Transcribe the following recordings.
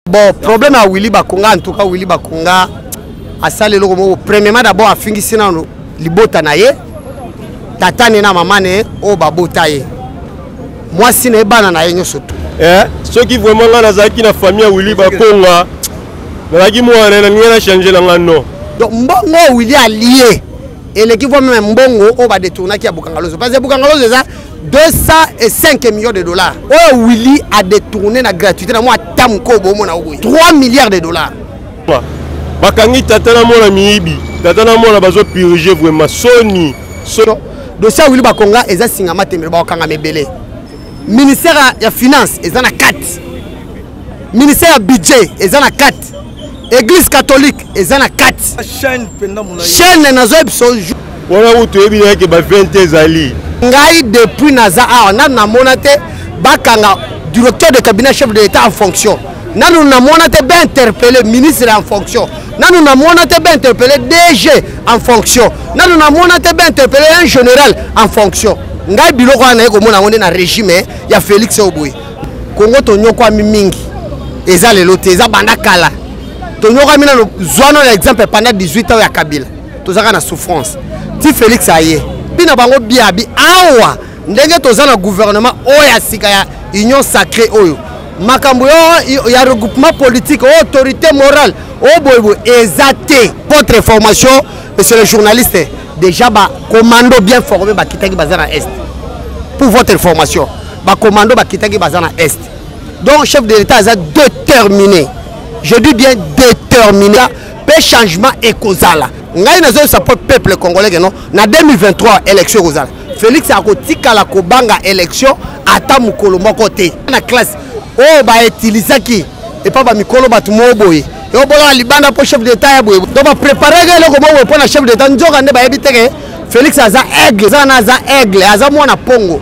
bon problème ya willi bakonga en tout cas willi bakonga asali eloko moko premièrement d'abord afingisi nano libota na ye tata ne na mama ne oyo babota ye mwasi na ye bana na ye nyonso tu eh, soki vraiment ngai nazalaki na famille ya willi bakonga nazalaki mwana na ngai na change na ngai non donc mbongo oyo willi alie eleki voi meme mbongo oyo badetournaki ya bukangalozo parce que bukangalozo eza 205 millions de dollars oyo willi adetourne na gratuité na mwa ata mokoo boomona o boye 3 milliards de dollars bakangi tata na mwana miyibi tata na mwana bazopirige vraimen soni dossier ya willi bakonga eza singa matembele bakokangama ebele ministère ya finance eza na kati ministère ya budget eza na kati église catholique eza na kati chaîne nazoyebi so wana kutu toyebi na yeke ba 20 ezali ngai depuis naza awa nanu namona te bakanga directeur de cabinet chef de l'état en fonction nanu namona te bainterpele ministre en fonction nanu namona te bainterpele dg en fonction nanu namona te bainterpele un général en fonction ngai biloko wana naye komona yango nde na régime ya félix oyo boye Congo tonyokwami mingi eza lelo te eza banda kala tonyokwami nano zwana na exemple panda 18 ans ya kabila tozaka na souffrance ti félix aye mpi na bango biabi awa ndenge toza na gouvernement oyo ya sika ya union sacré oyo makambo ya regroupement politique oyo autorité morale oyo boyeboye eza te votre formation monsieur le journaliste déjà bacommando bien formé bakitaki baza na est pour votre information ba commando bakitaki baza na est donc chef de l'état aza déterminé je dis bien déterminé mpe changement ekozala ngai nazoyebisa mpo peuple congolais keno na 2023 élection ekozala félix akotikala kobanga élection ata mokolo moko te na classe oyo bautilisaki epa bamikolo bato moko boye eobolaka libanda mpo chef d'état ya boye donc bapreparaki eloko moko boye mpo na chef d'état nzoka nde bayebi teke félix aza aigle eza na aza aigle aza mwana mpongo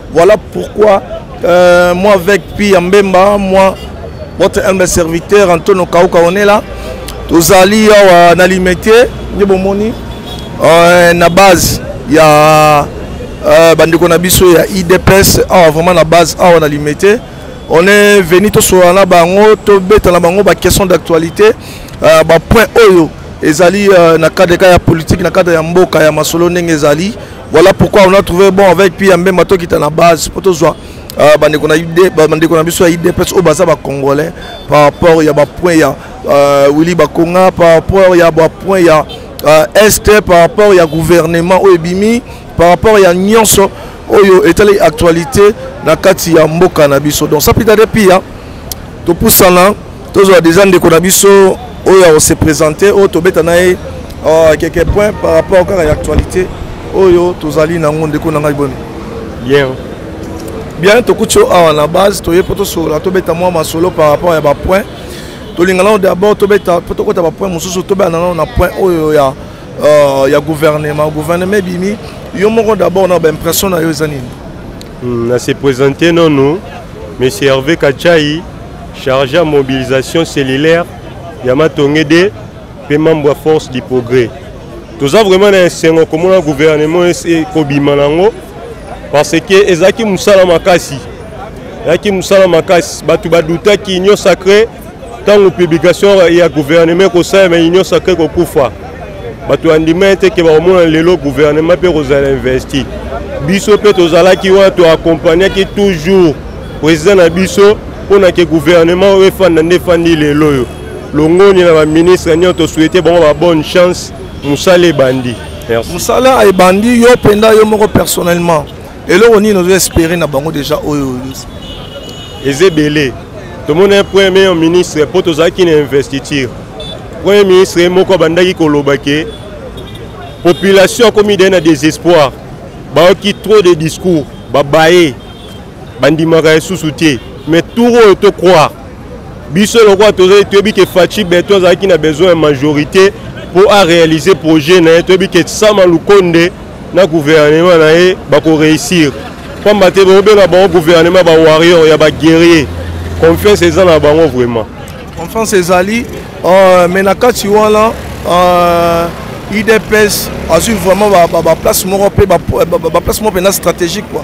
Voilà pourquoi euh, moi avec Pi Mbemba, moi, votre humble serviteur Antonio Kauka, on est là. tozali awa na limete nde bomoni euh, na base ya euh, bandeko na biso ya idps awa vraiment na base awa na limete on est venu tosolola na bango tobeta na bango baquestion d'actualité euh, bapoint oyo ezali euh, na cadre ka ya politique na cadre ya mboka ya masolo ndenge ezali Voilà pourquoi on a trouvé bon avec Pia Mbemba tokita na base mpo tozwa euh, bandeko na ide bandeko na biso ya idps oyo baza bacongolais par rapport ya bapoint ya euh, willi bakonga par rapport ya bapoint ya euh, est par rapport ya gouvernement oyo ebimi par rapport ya nyonso oyo etali actualité na kati ya mboka na biso donc sapita de pia topusana tozwa deja ndeko na biso oyo akose présente oyo tobeta na ye euh, quelques points par rapport kaka ya actualité oyo tozali nango ndeko na ngai boni bien bien tokuti yo awa na base toye mpo tosolola tobeta mwa masolo par rapport ya bapoint tolinga nano d'abord tobeta mpo tokota bapoint mosusu tobeta nano na point oyo ya euh, ya gouvernement gouvernement ebimi yo moko d'abord na baimpression na yo eza nini Hmm, na se presente nanu monsieur herve kachai charge ya mobilisation cellulaire ya matonge de mpe membre ya force du progrès toza vraiment na esengo komona gouvernement ekobima nango parce que ezalaki mosala makasi ezalaki mosala makasi bato badutaki union sacré ntango publication ya guvernema ekosalema union sacre kokufa bato bandima ye te ke bakomona lelo guvernema mpe kozala investi biso mpe tozalaki wana toakompagnaki toujours président na biso mpo na ke guvernema oyo efanda nde efandi lelo oyo longoni na baministre nyonso tosouete bango ba bonne chance mosala ebandi mosala ebandi yo mpenza yo moko personnellement eloko nini ozo espere na bango deja oyo eza ebele tomoni premier ministre mpo tozalaki na investiture premier ministre ye moko abandaki koloba ke population akomi dai na désespoir bayoki trop de discours babaye bandimaka lisusu te mais tour oyo tocroire biso lokola tozali toyebi ke faci beton azalaki na besoin ya majorité mpo aréalise projet na ye toyebi ke sama lukonde na gouvernement na ye bako réussir pamba te baobela bango gouvernement ba warrior ya ba guerrier confiance eza na bango vraiment confiance ezali euh, mais na kati wana euh, idps azwi vraiment baplace moko mpe baplace moko mpenza stratégique quoi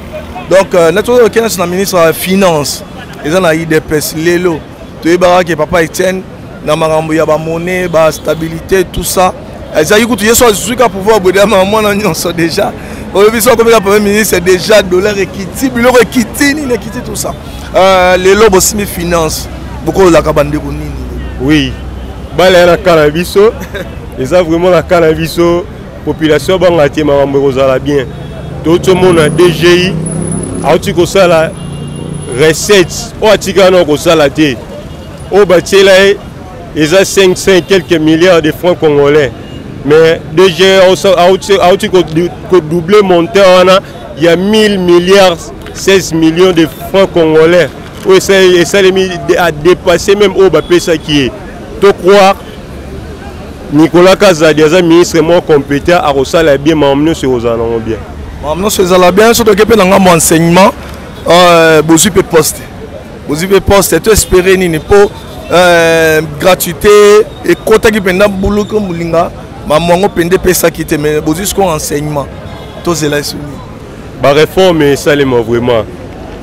donc euh, natozokenasi na ministre ya finance eza na idps lelo toyebaka ke papa etienne na makambo ya bamone bastabilité tout ça ezalaki kutu ye so azwi ka pouvoir bwedama ya mwana nyonso déjà oyebi so akomeka premier ministre déjà dollar ekiti biloko ekiti nini ekiti tout ça euh, lelo bosimi finance bokololaka bandeko nini oui bala ya na kala biso eza vraiment na kala biso population abanga te makambo ekozala bien touti omona dgi auti kosala recette oyo atikala na kosala te oyo batiela ye eza 500 quelques milliards de francs congolais mais dgi auti kodouble montant wana ya 1000 milliards 16 millions de francs congolais oyo esalemi adepasse meme oyo bapesaki ye tocroire Nicolas Kazadi aza ministre moko competent akosala bien makambo nyonso ekozala nango bien makambo nyonso ezala bien soki toke mpe na ngambo enseignement euh, bozwi mpe poste bozwi mpe poste to espere nini mpo euh, gratuité ekotaki mpenza buluku molinga mamongo mpenza epesaki te mais bozwi sikoyo enseignement tozela esoni Ba reforme esalema vraiment.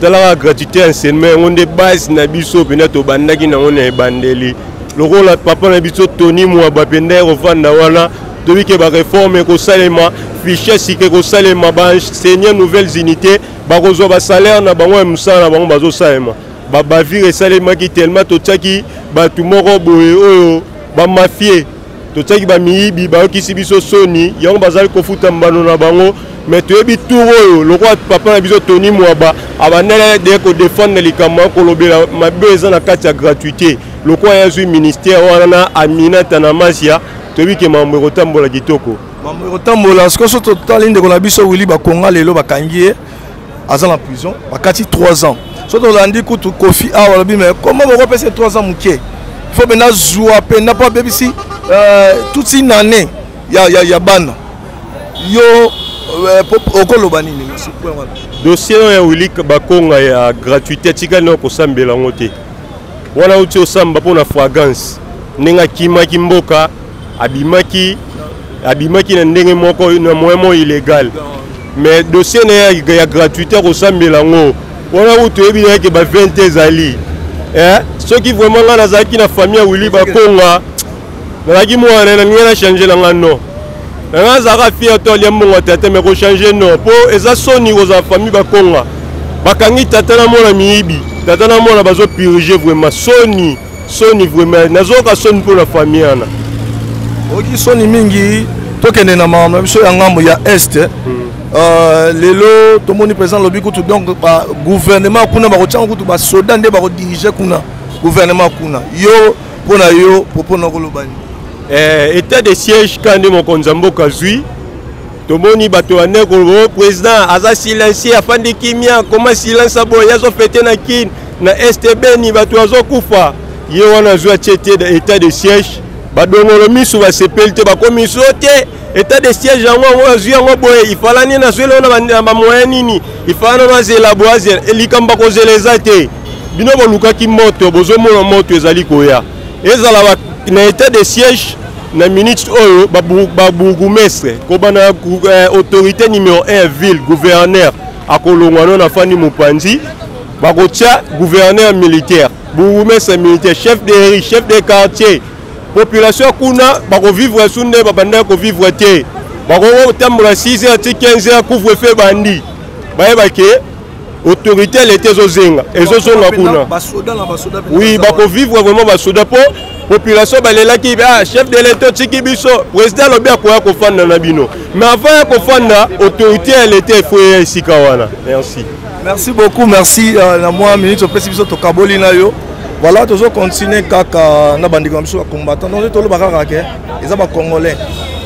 Talaka gratuité ya enseignement yango nde base na biso mpenza tobandaki nango na ebandeli lokola papa na biso tony mwaba mpenza ekofanda wana toyebi ke bareforme ekosalema fiche sika ekosalema baenseigne nouvelles unités bakozwa basalaire na bango ya mosala na bango bazosalema babavire esalemaki tellement totiaki bato moko boye oyo bamafie totiaki bamiyibi bayokisi biso soni yango bazali kofuta mbano na bango me toyebi tour oyo lokola papa na biso tony mwaba abandela de kodefendre likambo ya kolobela mabe eza na kati ya gratuité lokola ye azwi ministère wana na amina tanamasia toyebi ke mambo ekotambola kitoko mambo ekotambola sikoso totali ndeko na biso wili bakonga lelo bakangi ye aza na prison bakati 3 ans soki tolandi kutu kofi awa alobi me koma bokopesa 3 ans moke fo mpe nazwa mpe na mpo abebisi euh, toute une année ya, ya, ya bana yo euh, okoloba nini dossier oyo ya wili bakonga ya gratuité atikali na kosambela yango te wana uti osamba mpo na fragance ndenge akimaki mboka abimaki abimaki na ndenge moko na moyen moko illégal mais dossier na ye ya gratuité akosambela yango wana kutu toyebi na ye ke ba 20 ezali eh? soki vraiment ngai nazalaki na famille ya wili bakonga nazalaki mwana na ye nalingi na change na ngai non na ngai azalaka fier to alia mbongo ya tata me kochange non mpo eza soni kozala famille bakonga bakangi tata na mwana miyibi tata na mwana bazopirige vraiment soni soni vraiment nazoyoka soni mpo na famille wana oyoki soni mingi tokende na makambo na biso ya ngambo ya est eh. hmm. euh, lelo tomoni président alobi kutu donc bagouvernement kuna bakotyanga kutu basoda nde bakodirige kuna gouvernement kuna yo mpo na yo propos na kolobani eh, état de siège ka nde mokonzi ya mboka zwi tomoni bato ya ndeko o oh, président aza silencieux afandi kimia koma silence ya boye azo fete na kin na este beni bato azokufa ye wana azwi atie te état de siège badongolo miso basepeli te bakomi so te état de siège yango yango azwi yango boye ifalani nazweli oyo na bamoyen nini ifalani ono azela boye azela eh, likambo bakozela eza te bino bolukaki moto bozomona moto ezali koya ezala ba, na etat de siège na minute oyo babourgoumestre ba kobanda eh, autorité numéro 1 ya ville gouverneur akolongwa no na fandi mopanzi bakotya gouverneur militaire bourgoumestre militaire chef de ri chef de quartier population kuna bakovivre su nde babandaki kovivre te bakokotambola 6 heures ti 15 heures couvre feu bandi bayebake autorité ya leta ezozenga ezozonga kuna oui bakovivre vraiment basoda mpo population balelaki ah, chef de leta otiki biso président alobi akoya kofanda na bino mais avant ya kofanda autorité ya leta efo eya esika wana merci merci beaucoup merci euh, na mwa minute opesi biso tokaboli na yo voilà tozo continue kaka na bandeko na biso bacombattant donc toloba kaka ke eza bacongolais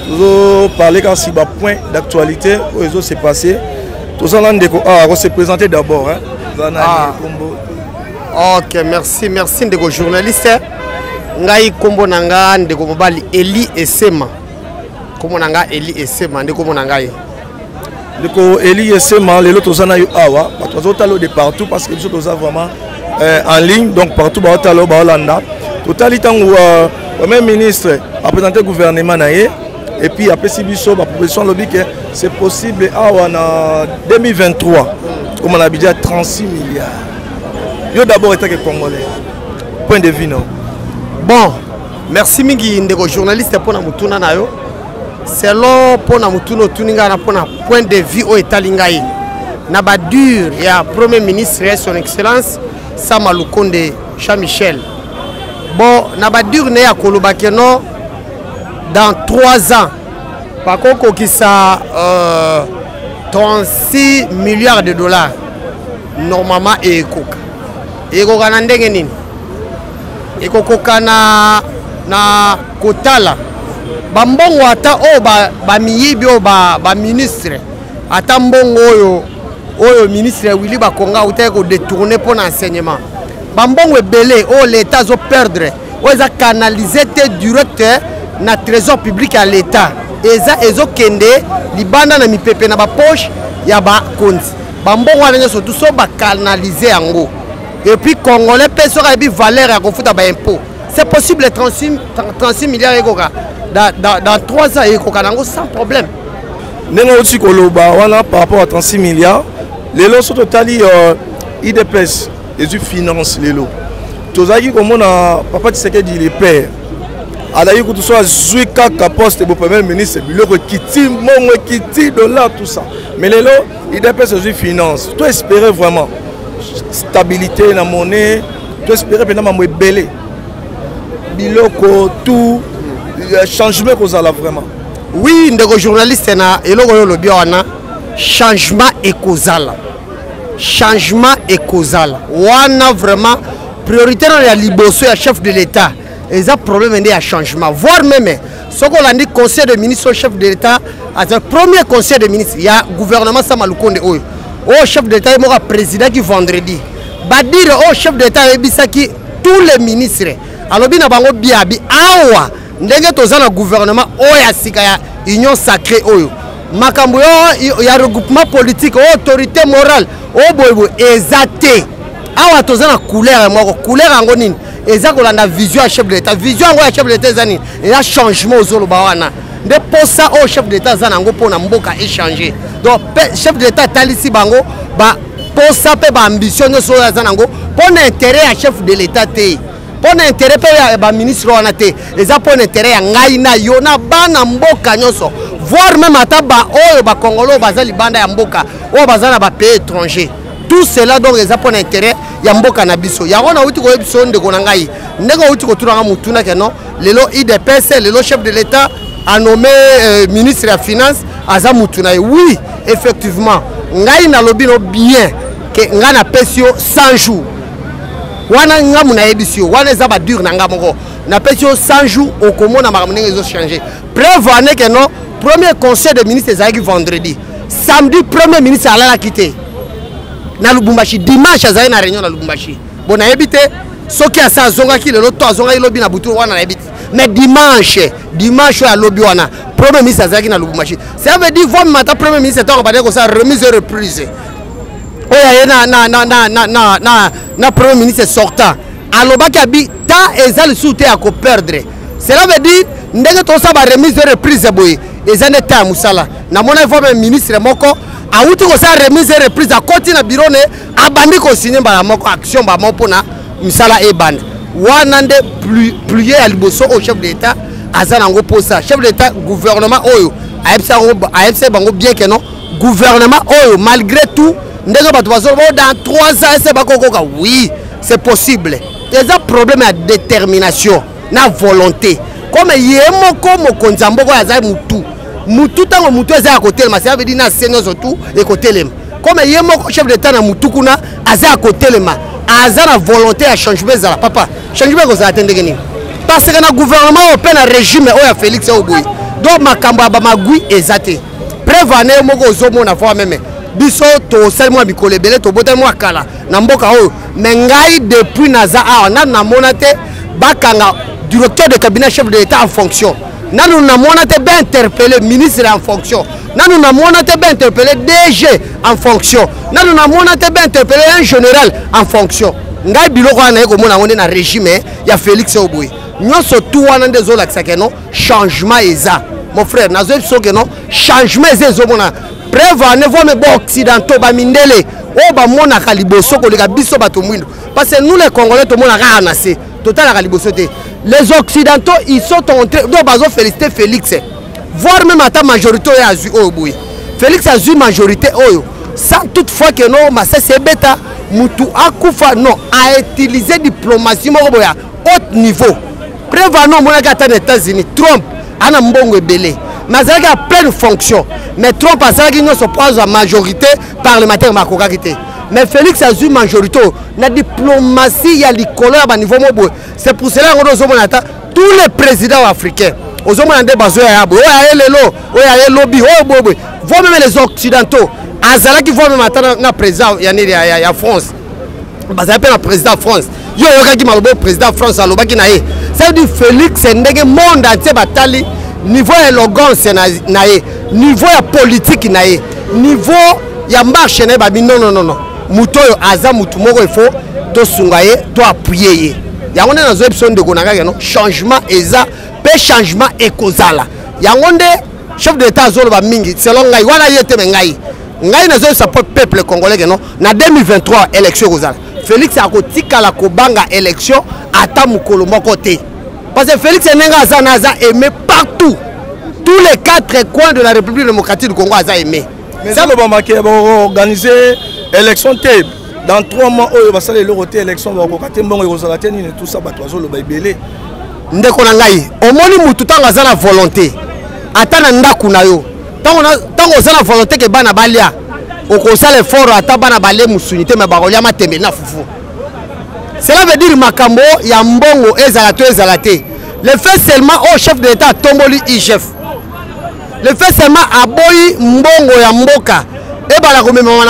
tozo parle kasi bapoint d'actualité oyo ezo se passer toza na ndeko awa ah, ko se présenter d'abord hein toza na ah. kombo ok merci merci ndeko journaliste ngai kombo na nga ndeko mobali Eli Esema kombo na nga Eli Esema nde kombo na ngai ndeko Eli Esema lelo toza na yo awa bato bazotala de partout parce que biso toza vraiment euh, en ligne donc partout baotala baolanda totali ntango euh, premier ministre apresente gouvernement na ye et puis apesi biso baproposition alobi ke c'est possible awa na 2023 koma na budget ya 36 milliard yo d'abord etake congolais point de vue no bon merci mingi ndeko journaliste mpo na motuna na yo selon mpo na motuna otuni ngai na mpo na point de vue oyo etali ngai na badure ya premier ministre ya son excellence sama lukonde jean michel bon na badure na ye akolobake non dans 3 ans bakokokisa euh, 36 milliards de dollars normalement ekoka ekoka na ndenge nini ekokoka na, na kotala bambongo ata oyo bamiyibi ba oyo baministre ba ata mbongo oyo oyo ministre willi bakonga autaki kodetourne mpo na enseignement bambongo ebele oyo leta azoperdre oyo eza canalise te direct na trésor public ya l'état eza ezokende libanda na mipepe na bapoche ya bakonzi bambongo wana nyonso tu so bacanalise yango epuis congolais mpe soki ayebi valeur ya kofuta baimpôt c'est possible 36, 36 milliards ekoka dans, dans, dans 3 ans ekoka nango sans problème ndenge outi koloba wana par rapport à 36 milliards lelo so totali uh, idps ezwi finance lelo tozalaki komona papa tisekedi le père azalaki kutu so azwi kaka poste bo premier ministre biloko ekiti mbongo ekiti dollar tout ça mais lelo idps ozwi finance to espérer vraiment stabilité na monnaie to espérer mpenza mambo ebele biloko tout euh, changement ekozala vraiment oui ndeko journaliste na eloko oyo olobi wana changement ekozala changement ekozala wana vraiment priorité nano ya liboso ya chef de l'état eza problème nde ya changement voire meme soki olandi conseil de ministre oyo chef de l'état aza premier conseil de ministre ya gouvernement sama lukonde oyo oyo chef de l'état ye moko aprésidaki vendredi badire oyo chef de l'état ayebisaki tous les ministres alobi na bango biabi awa ndenge toza na gouvernement oyo ya sika ya union sacré oyo makambo yo ya regroupement politique oyo autorité morale oyo boyeboye eza te awa toza na couleur moko couleur yango nini eza kolanda vision ya chef de l'état vision yango ya chef de l'état eza nini eza changement ozoloba wana nde mposa oyo chef de l'état aza na yango mpo na mboka échange donc chef de l'état atalisi bango ba mposa mpe baambition nyonso oyo aza na yango mpo na intérêt ya chef de l'état te mpo na intere mpe ya baministre wana te eza mpo na intere ya ngai na yo na bana mboka nyonso voir meme ata baoyo bakongolo oyo baza libanda ya mboka oyo baza na bapays étranger tout cela donc eza mpo na intere ya mboka na biso yango nauti koyebisa yo ndeko na ngai ndenge outi kotunaka motuna ke non lelo idps lelo chef de l'état anome euh, ministre ya finance aza motu na ye oui effectivement ngai nalobi no bien ke ngai napesi yo 100 jours wana ngambo nayebisi yo wana eza badure na nga moko napesi yo 100 jours okomona makambo ndenge ezochange preuve aneke no premier conseil de ministre ezalaki vendredi samedi premier ministre alalaki te na lubumbashi dimanche azali na réunion na lubumbashi bo nayebi te soki asa azongaki lelo to azongaki lobi na butu wana nayebi te mais dimanche dimanche oyo alobi wana premier ministre azalaki na lubumbashi ça veut dire vomimata premier ministre ntango bandaki kosala remise et reprise oyo aye na, na, na, na, na, na, na, na premier ministre sortant alobaki abi ta eza lisusu te ya koperdre cela veut dire ndenge tosala baremise de reprise boye eza nde ta ya mosala namona ifo me ministre moko awuti kosala remise de reprise akoti na biro ne abandi kosigne mbala moko action mbala moko mpona misala ebanda wana nde plie ya liboso oyo chef de l'etat aza na yango mposa chef de l'etat gouvernement oyo ayebisa bango bien ke non Gouvernement oyo malgré tout ndenge bato bazo oh, dans 3 ans ese bakokoka oui c'est possible eza problème ya détermination na volonté comme ye moko mokonzi ya mboka oyo azali mutu mutu ntango mutu eza ya kotelema cela veut dire na se nyonso tu ekotelema comme ye moko chef d'état na mutu kuna aza ya kotelema aza na volonté ya changement ezala papa changement ekozala te ndenge nini parce que na gouvernement oyo mpe na régime oyo ya félix oyo boye donc makambo ya bamagui eza te preuve ane yo moko ozomona voi meme biso tosali mwa mikolo ebele tobotali mwa kala na mboka oyo me ngai depuis naza awa nanu namona te bakanga directeur de cabinet chef de l'état en fonction nanu namona te bainterpele ministre en fonction nanu namona te bainterpele dg en fonction nanu namona te bainterpele un général en fonction ngai biloko wana naye komona yango nde na régime ya félix oyo boye nyonso tu wana nde ezolakisa keno changement eza mon frère nazoyebi biso ke non changement eza ezomona preuve en est voime baoccidentaux bamindele oyo bamonaka liboso koleka biso bato mwindo parce que nous les congolais tomonaka kaka na se totalaka liboso te les occidentaux ils sont entrés donc bazo félicité félix voire même ata majorité oyo azwi oyo boye félix azwi majorité oyo sans toutefois ke no masasi ebeta motu akufa non a utiliser diplomatie moko boya haut niveau preuve ana omonaki ata na états-unis trump ana mbongo ebele mais azalaki ya pleine fonction mais trump asalaki nyonso mpo azwa majorité parlementaire makokaki te mais félix azwi majorité oyo na diplomatie ya likolo ya baniveau mo boye c'est pour cela yango nde ozomona ata tous les présidents africains ozomona nde bazoya ya boye oyo aye lelo oyo aye lobi oyo boye boye vo meme les occidentaux azalaki vo meme ata na président ya nini ya france bazali mpe na président france yo oyokaki maloba oyo président france alobaki na ye cest du félix ndenge monde entier batali niveau ya elogance na ye niveau ya politike na ye niveau ya marche na ye babi nononono moto oyo aza motu moko ifo tosunga ye to appuye ye yango nde nazoyebi so ndeko na kaka no changement eza mpe changement ekozala yango nde chef de l'état azoloba mingi selon ngai wana ye te me ngai ngai nazoyebisa mpo peuple congolais keno na 2023 élection ekozala félix akotikala kobanga élection ata mokolo moko te parce que félix ndenge aza na aza aimé partout tous les quatre coins de la république démocratique du congo aza aimé salobamake baorganise élection te dans trois mois oyo basala eloko te élection bakoka te mbongo ekozala te nini tout ça bato bazoloba ebele ndeko na ngai omoni motu ntango aza na volonté ata na ndako na yo ntango oza na volonté ke bana balia okosala efort ata bana balie mosuni te me bakolia matembeli na fufu cela veut dire makambo ya mbongo ezala to ezala te le fait seulement oyo oh, chef de l'état atomboli igf le fait seulement aboyi mbongo ya mboka ebala komemama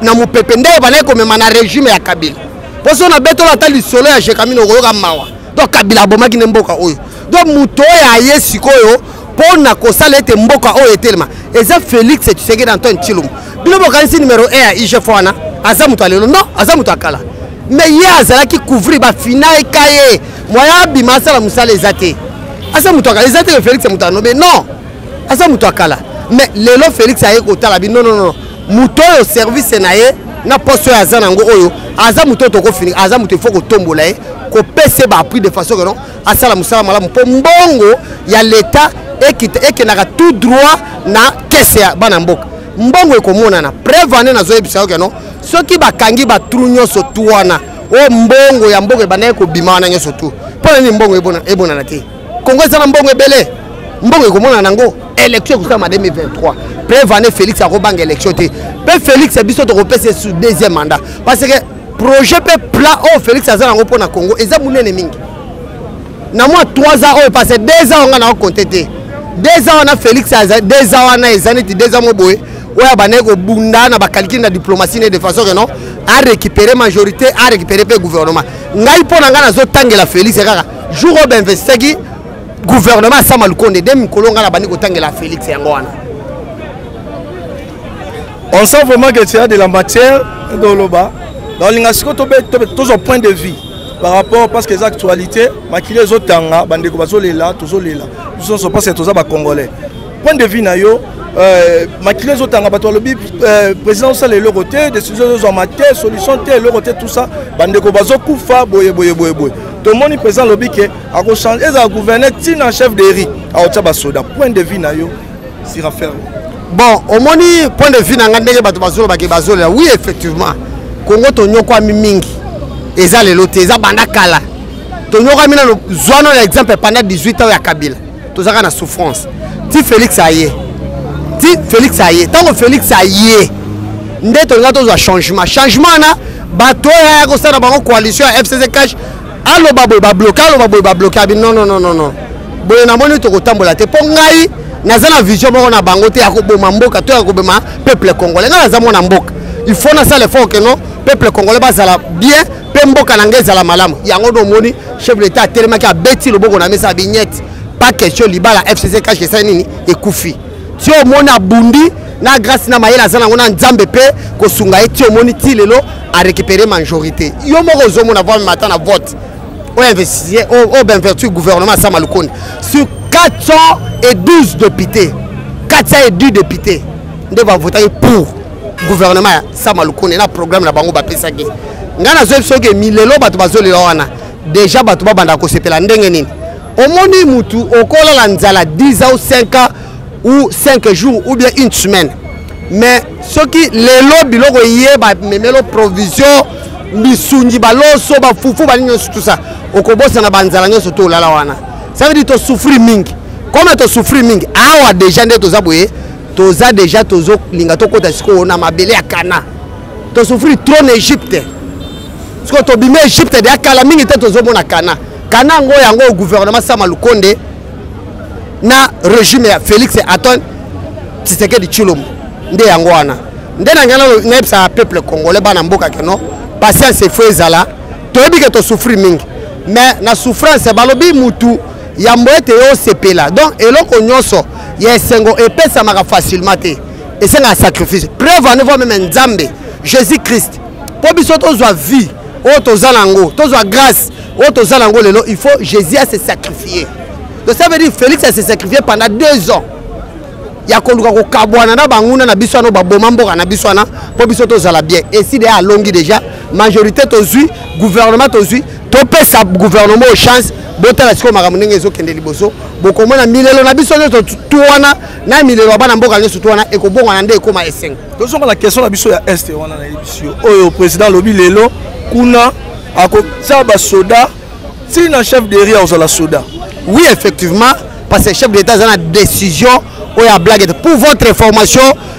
na mopepe nde ebandaki komema na regime ya kabila mpo so na betolo ata lisolo ya jekamine okoyoka mawa donc kabila abomaki nde mboka oyo donc moto oyo aye sikoyo mpo na kosala ete mboka oyo etelema eza félix tshisekedi antoine tshilombo bino bokanisi numero 1 ya igf wana aza moto ya lelo non aza moto ya kala mais ye azalaki couvrir bafinaka ye moya abima asala mosala eza te aza moto ya kala eza te ke félix moto ya nobe non aza moto ya kala mais lelo félix aye kotala bi non non non moto oyo service na ye na poste oyo aza nango oyo aza moto oyo tokofini aza moto ifo kotombola ye kopesa ye baappris de façon que non asala mosala malamu mpo mbongo ya leta ekendaka tout droit na kese ya bana mboka mbongo ekomonana preuve ane nazoyebisa yo keno soki bakangi batru nyonso tu wana o mbongo ya mboka ebandaki kobima wana nyonso tu mpo na nini mbongo ebonana te Congo eza na mbongo ebele. Mbongo ekomona nango élection ekosala 2023. Preuve année Félix akobanga élection te. Pe Félix biso tokopesa sur deuxième mandat parce que projet pe plan oyo oh, Félix aza nango mpona Congo eza monene mingi. Na mwa 3 ans oyo parce que 2 ans nga na compter te. 2 ans wana Félix aza 2 ans wana eza neti 2 ans moboye. oyo abandaki kobunda na bakalikili na diplomatie ne de façon que non arécupere majorité arécupere mpe gouvernement ngai mpo na ngai nazotangela félix kaka jour oyo bainvestaki gouvernement asama lukonde nde mikolo ngai nabandi kotangela félix yango wana on sent vraiment que tu as de la matière doloba balinga siko tozwa point de vue par rapport parce que eza actualité makili ezotanga bandeko bazolela tozolela biso nyonso parce que toza bacongolais point de vue na yo euh, makili ezotanga bato balobi euh, président osala eloko te décision ezozwama te solution te eloko te tout ça bandeko bazokufa boye boye boye boye tomoni président alobi ke akochange ezala gouverneur ntina chef de ri aotya basoda point de vue na yo sur affaire bon omoni point de vue na ngai ndenge bato bazolobake bazolela oui effectivement kongo tonyokwami mingi eza lelo te eza banda kala tonyokwami nano zwano na exemple pendant 18 ans ya kabila tozalaka na souffrance ti félix aye ti félix aye ntango félix aye nde tolinga tozwa changement changement wana bato oyo aya kosala bango coalition ya fcc cash aloba boye babloke aloba boye babloke abi non non non non boye namoni tokotambola te mpo ngai naza na vision moko na bango te ya koboma mboka to ya koboma peuple congolais ngai naza mwana mboka il faut nasala effort ke non peuple congolais bazala bien mpe mboka na ngai ezala malamu yango nde omoni chef de l'etat atelemaki abeti loboko na mesa ya bignette pas question libala fcc kashe esali nini ekufi ti omoni abundi na grâce na mayele aza nango na nzambe mpe kosunga ye ti omoni ti lelo arécupere majorité yo moko ozomona voi mata na vote oyo investitie oyo benvertu gouvernement asama lukonde sur 412 députés 410 députés nde bavotaki pour gouvernement ya sama lukone na programme na bango bapesaki ngai nazwebi soki milelo bato bazolela wana deja bato babanda kosepela ndenge nini omoni mutu okolala nzala 10 ans ou 5 ans ou 5 jours ou bien une semaine mais soki lelo biloko eye bamemelo provision misungi baloso bafufu balingi nyonso tout ça okobosana banzala nyonso to olala wana ça veut dire tosouffrir mingi comme tosouffrir mingi awa deja nde toza boye toza deja tozolinga tokota sikoyo na mabele ya kana tosouffrir trop na egypte sikoyo tobimi egypte deya kala mingi te tozomona kana kana yango yango gouvernement sama lukonde na regime ya félix aton tshisekedi tshilombo nde yango wana nde na ngai nayebisaka peuple congolais bana mboka keno patience efo ezala toyebi ke tosouffrir mingi mais na souffrance balobi mutu yambo ete yo osepela donc eloko nyonso ya esengo epesamaka facilement te esengaka sacrifice preuve en evoa meme nzambe jésus christ mpo biso tozwa vie oyo toza na yango tozwa grâce oyo toza na yango lelo il faut jésus ase sacrifie donc ça veut dire félix ase sacrifie pendant deux ans ya koluka kokabwana na banguna na biso wana baboma mboka na biso wana mpo biso tozala bien eside alongi déjà majorité tozwi gouvernement tozwi topesa gouvernement o chance botala sikoyo makambo ndenge ezokende liboso bokomona milelo na biso nyonso tu wana na milelo ya bana mboka nyonso tu wana ekobongwana nde ekóma esengo tozonga na question na biso ya est wana nayebisi yo oyo président alobi lelo kuna akotia basoda ti na chef de ria ozala soda oui effectivement parce que chef de l'état aza na décision oyo ya blague pour votre information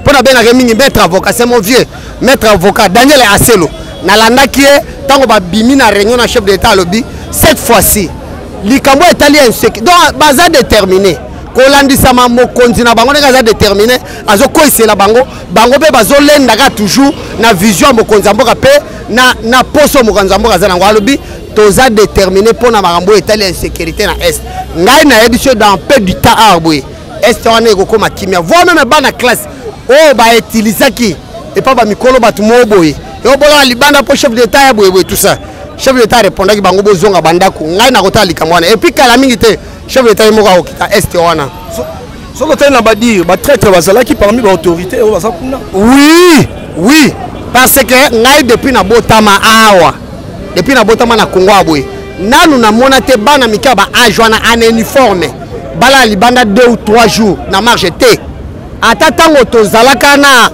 mpo nabengaka ye mingi maître avocat c'est mon vieux maître avocat daniel aselo nalandaki ye ntango babimi na réunion na chef de l'état alobi cette fois-ci likambo etali ya inseki donc baza détermine kolandisama mokonzi na bango ndenge aza détermine azokweisela bango bango mpe bazolenda kaka toujours na vision ya mokonzi ya mboka mpe na, na poso mokonzi ya mboka aza nango alobi toza détermine mpo na makambo oyo etali ya insécurité na est ngai nayebi so dans peu du temps awa boye este wana ekokoma kimia voi meme bana classe oyo oh, bautilisaki epa bamikolo bato moo boye eobolaka libanda mpo chef d'état ya boyeboye tout ça chef d'état arepondaki bango bozonga bandako ngai nakotala likambo wana epuis kala mingi te chef d'état ye moko akokita este wana soki otali na badire batraitre bazalaki parmi baautorité oyo baza kuna oui oui parce que ngai depuis nabotama awa depuis nabotama na congo ya boye nanu namona te bana mike ya baage wana en uniforme balala libanda deux ou trois jours na marge te ata ntango tozalaka na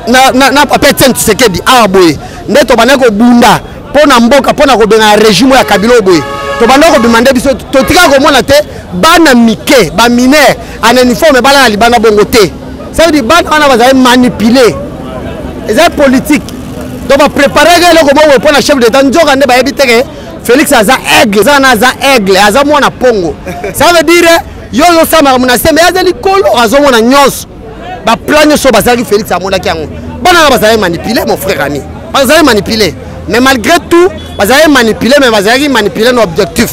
na, na, na papa etienne tshisekedi awa boye nde tobandaki kobunda mpo na mboka mpo na kobengana regime ya kabila oyo boye tobandaki kobima nde biso totikaka komona te bana mike baminere en uniforme balala libanda bongo te ça veut dire bana wana bazali manipule eza politique donc bapreparaka eloko bongo mpo na chef d'état nzoka nde bayebi teke félix aza aigle eza wana aza aigle aza mwana pongo ça veut dire yo ozosamaka monase me aza likolo azomona nyonso baplan nyonso bazalaki félix amonaki yango bana wana bazalaki manipule mon frère ami bazalaki manipule mais malgré tout bazalaki manipule mais bazalaki manipule na objectif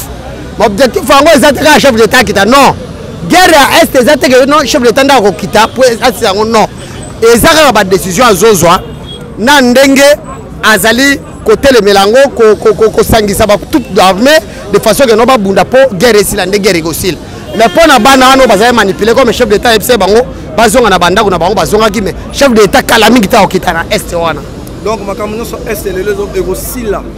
objectif yango eza te kaka chef de l'etat akita non guerre ya est eza te ke non chef de l'etat nde akokita po asisa yango non eza kaka badécision azozwa na ndenge azali kotelemela yango kosangisa batout armée de façon ke no babunda mpo guerre esila nde guerre ekosila mais mpo na bana wana bazali manipule comme chef d'état ayebisa bango bazonga na bandako na bango bazongaki mais chef d'état kala mingi ntango okita na est wana donc makambo nyonso est lelo ekosila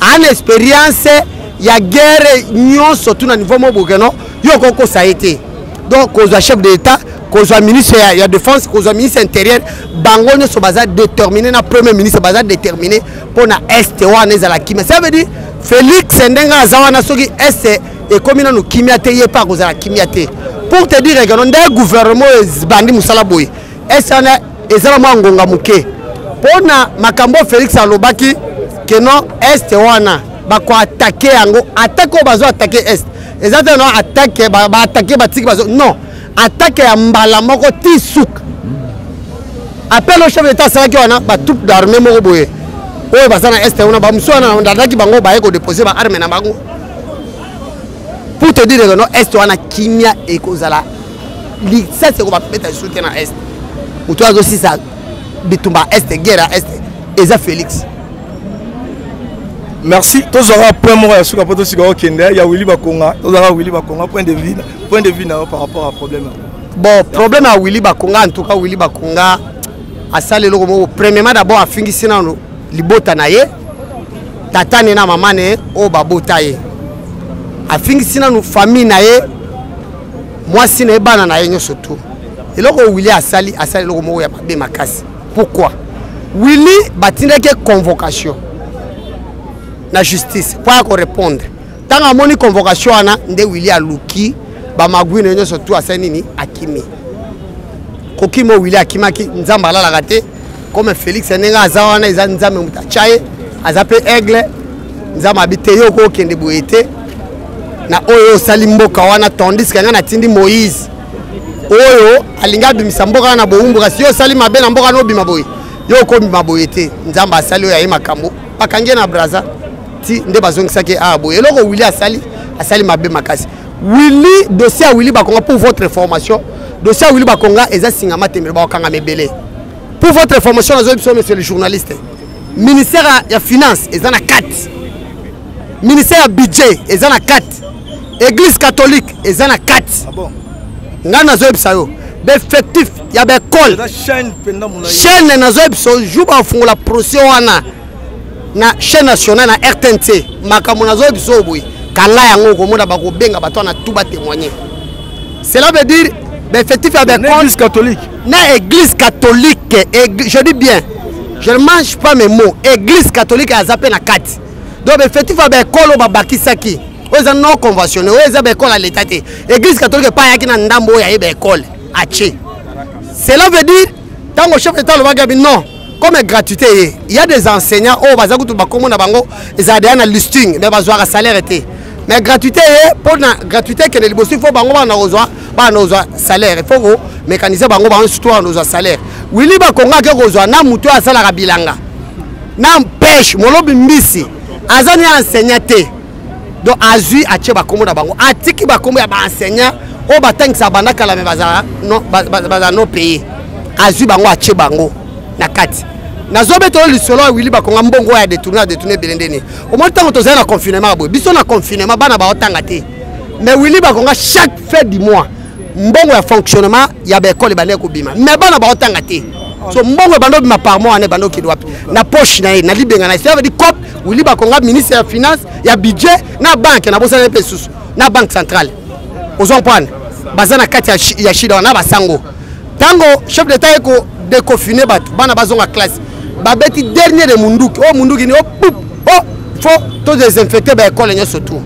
ana experience ya guerre nyonso tuna niveau moko boke no yo okoki kosa ye te donc kozwa chef de l'état kozwa ministre ya, ya défense kozwa ministre ya intérieur bango nyonso baza déterminé na premier ministre baza déterminé mpo na est wana ezala kimia ça veut dire félix ndenge aza wana soki est ekomi nanu kimia te ye mpe akozala kimia te pour te dire ekeno nde gouvernement oyo ebandi mosala boye est wana eza na mwa ngonga moke mpo na makambo oyo félix alobaki ke non est wana bakoatake yango atake oyo bazo atake est eza te no atake baatake batiki bazo non atake ya mbala moko ti suka appel au chef d'état asalaki wana batroupe d'armée moko boye oyo baza na est wana bamosusu wana nadaki bango baye kodepose baarme na bango pour te dire que no est wana kimia ekozala lisasi ekobabeta lisusu te na est moto azosisa bitumba ya est guerre ya est eza félix merci tozwaka point moko ya suka mpo tosika okende ya wili bakonga tozwaka wili bakonga point de vue point de vue na yo par rapport à problème bon problème ya wili bakonga en tout cas wili bakonga asali eloko moko premièrement d'abord afingisi nano libota na ye tata ne na mama ne oyo babota ye afingisi nano famille na ye mwasi na ye bana na ye nyonso tu eloko oyo willi asali asali eloko moko ya mabe makasi pourquoi willi batindaki ye convocation na justice mpo ya korepondre ntango amoni convocation wana nde willi aluki bamagui na ye nyonso tu asali nini akimi kokima oyo willi akimaki nzambe alalaka te comme félix ndenge aza wana eza nzambe moto atya ye aza mpe aigle nzambe abi te yo okokende boye te na oyo osali mboka wana tandis ke ngai natindi moïse oyo alingi abimisa mboka wana na bowumbu kasi yo osali mabe na mboka wana obima boye yo okobima boye te nzambe asali oyo aye makambo bakangi ye na braza ti nde bazongisaki ye awa boye eloko wili asali asali mabe makasi wili dossier ya wili bakonga pour votre information dossier ya wili bakonga eza singa matembele bakokangama ebele pour votre information nazoyi biso monsieur le journaliste ministère ya finance eza na kati ministère ya budget eza na kati église catholique eza na kati ah ngai nazoyebisa yo baeffectif ya baekole chaîne nazoyebisa yo jour bafungola procès wana na chaîne nationale na rtnc makambo nazoyebisa yo boye kala yango okomona bakobenga bato wana tu batémoigne cela veut dire baeffectif ya baekole na église catholique Eg... je dis bien je ne mange pas mes mots église catholique aza mpe na kati donc befetif ya baekolo babakisaki oyo eza non conventionne oyo eza baekole ya leta te église catholique epai ayaki na ndambo oyo aye baekole atie cela veut dire ntango chef d'état alobaki abi non comme gratuité ye il y a des enseignants oyo baza kutu bakombo na bango ezala deya na listing mais bazwaka salaire te mais gratuité ye mpo na gratuité ekende liboso il faut bango bana kozwa bana kozwa salaire il faut komekanise bango bango surtout bana kozwa salaire wili bakongo ake kozwa na moto oyo asalaka bilanga na mpeshe molobi mbisi aza ni enseignant te donc azwi atie bakombo na bango atiki bakombo ya baenseignant oyo batangisa banda kala me bazala no paye azwi bango atie bango na kati nazobeta oyo lisolo ya wili bakonga mbongo oyo adetourne adetourne ebele nde nini omoni ntango tozali na confinement ya boye biso na confinement bana baotanga te mais wili bakonga chaque fin du mois mbongo ya fonctionnement ya baekole ebandaki kobima mais bana baotanga te so mbongo ebanda obima par mois wana ebanda okende wapi na poche na ye na libenga na ye cest à dire cop Willy Bakonga ministre ya finance ya budget na banque na bosana pe susu na banque centrale ozwa mpwana baza na kati ya shida wana basango ntango chef d'état eko déconfine bato bana bazonga classe babeti dernier de munduki oyo oh, munduki ni o oh, pup o oh, fo to désinfecte baekole nyonso tour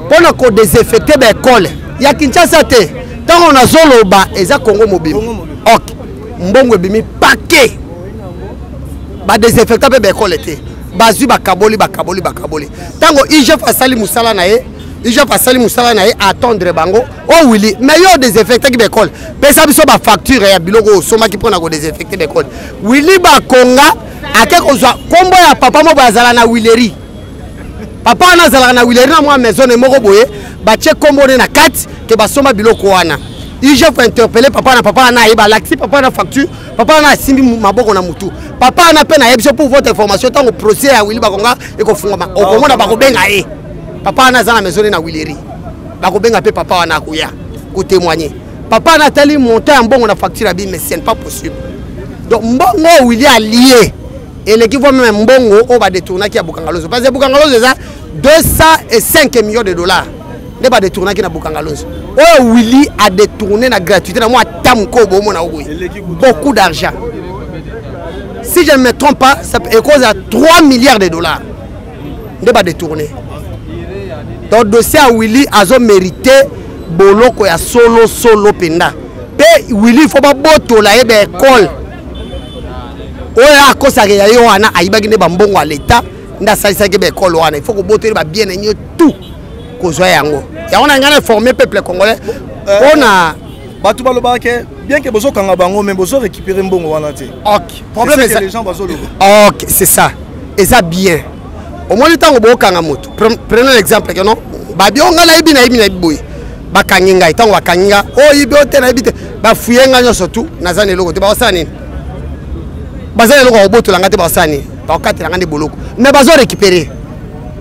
mpo na kodesinfecte baekole ya kinshasa te ntango nazoloba eza kongo mobimba ok mbongo ebimi pake ba desinfectant pe ba école te bazwi bakaboli bakaboli bakaboli ntango igf asali mosala na ye igf asali mosala na ye attendre bango o oh, wili mais yo odesinfectaki baekole pesa biso bafacture ya biloko oyo osomaki mpo na kodesinfecte baekole wili bakonga ake kozwa nkombo ya papa moko azala na wileri papa wana azalaka na wileri na mwa maisone moko boye batye nkombo ne na kati ke basomba biloko wana igf interpele papa na papa wana ayeba alakisi papa na facture papa wana asimbi maboko na motu papa wana mpe nayebi so pour votre information ntango procès ya wili bakonga ekofungwama okomona bakobenga ye papa wana aza na maisone na wileri bakobenga mpe papa wana akoya kotémoigne papa wana atali montant ya mbongo na facture ya bime ce n'est pas possible donc mbongo oyo wili alie eleki vo meme mbongo oyo badetournaki ya bukangalozo parce que bukangalozo eza 205 millions de dollars nde badetournaki na bokangalonzo oyo willi adetourne na gratuité na mwa ata mokoo boomona yango boye beaucoup d'argent si je ne me trompe pas ekoza ya 3 milliards de dollars nde badetourne donc dossier ya willi azomérite boloko ya solo solo mpenza mpe willi fo babotola ye baekole oyo akosaka ya ye wana ayibaki nde bambongo ya leta nde asalisaki baekole wana il faut kobotoli babien na ye tout kozwa yango yango na ngai na forme peuple congolais eh, mpo na bato balobaka ke bien ke bozokanga bango mais bozo récupérer mbongo wana te ok problème eza les gens bazoloba ok c'est ça eza bien omoni ntango bokanga moto prenons l'exemple ke non babio ngai nayebi nayebi nayebi boye bakangi ngai ntango bakangi ngai oyebi oh, o te nayebi te bafuye ngai nyonso tu naza na eloko te bakosala nini baza na eloko ya kobotola ngai te bakosala nini bakokatela ngai nde boloko mais bazo récupérer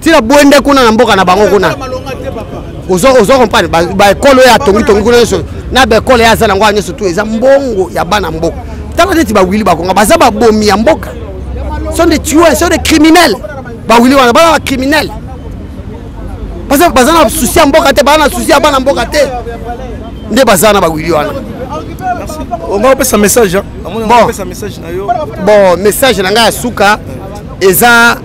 tina bwende kuna na mboka na bango kuna ozo comprendre baekole oyo atongitongi kuna nyonso na baekole ye aza nango ya nyonso tu eza mbongo ya bana mboka tala neti bawili bakonga baza babomi ya mboka sont des tueurs sont des criminels bawili wana bana bacriminel baza na susi ya mboka te baza na susi ya bana mboka te nde baza na bawili wana onga opesa message bon message na ngai ya suka eza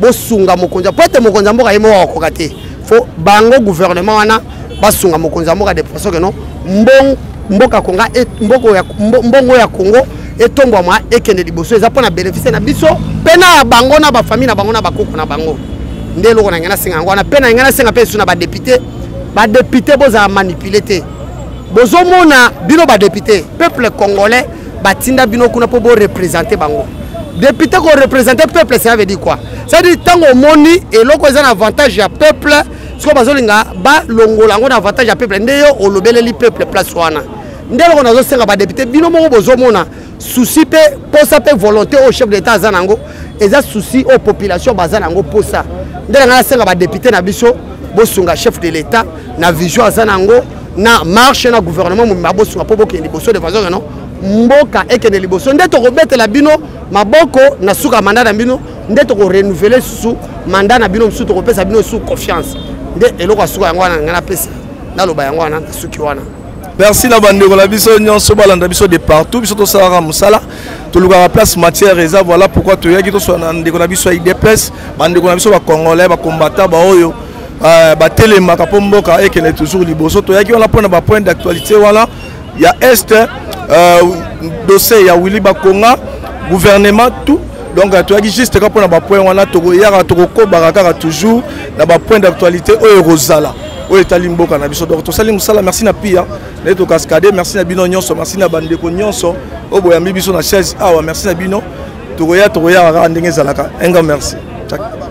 bosunga mokonzi mpo ete mokonzi ya mboka ye moko akokoka te fo bango gouvernement wana basunga mokonzi ya mboka de façon que non mbongo mboka konga e, mboko ya mbongo ya Kongo etombwama ekende liboso eza mpona bénéfice na biso mpe na bango na bafamille na bango na bakoko na bango nde eloko na ngai nasenga yango wana mpe na ngai nasenga mpe lisusu na badepute badepute bozala manipule te bozomona bino badepute peuple congolais batinda bino kuna mpo borepresente bango député korepresente peuple ça veut dire quoi cetadire ntango omoni eloko eza na avantage ya peuple sikoyo bazolinga balongola yango na avantage ya peuple nde yo olobeleli peuple place wana nde eloko nazosenga badepute bino moko bozomona susi mpe mposa mpe volonté oyo chef de l'état aza na yango eza susi oyo population baza na yango mposa nde na ngai nasenga badepute na biso bosunga chef de l'état na vision aza na yango na marche na gouvernement mobimba bosunga mpo bokende liboso de façon keno mboka ekende liboso nde tokobetela bino maboko na suka manda na bino nde tokorenouvele susu manda na bino mosusu tokopesa bino su confiance nde eloko ya suka yango wana ngai napesa naloba yango wana nasuki wana merci na bandeko na biso nyonso balanda biso de partout biso tosalaka mosala tolukaka place matière eza voilà pourquoi toyaki toswana na ndeko na biso ya idps bandeko na biso bacongolais bacombatant baoyo euh, batelemaka mpo mboka ekende toujours liboso toyaki wana mpo na bapoint d'actualité wana ya est euh, dossier ya willi bakonga gouvernement tout donc euh, toyaki juste kaka mpo na bapoint wana tokoyaka tokokobaka kaka toujours na bapoint d'actualité oyo ekozala oyo etali mboka na biso donc tosali mosala merci na pia naye tokaskade merci na bino nyonso merci na bandeko nyonso oyo boyambi biso na chaise awa merci na bino tokoya tokoyaka kaka ndenge ezalaka enga merci Ciao.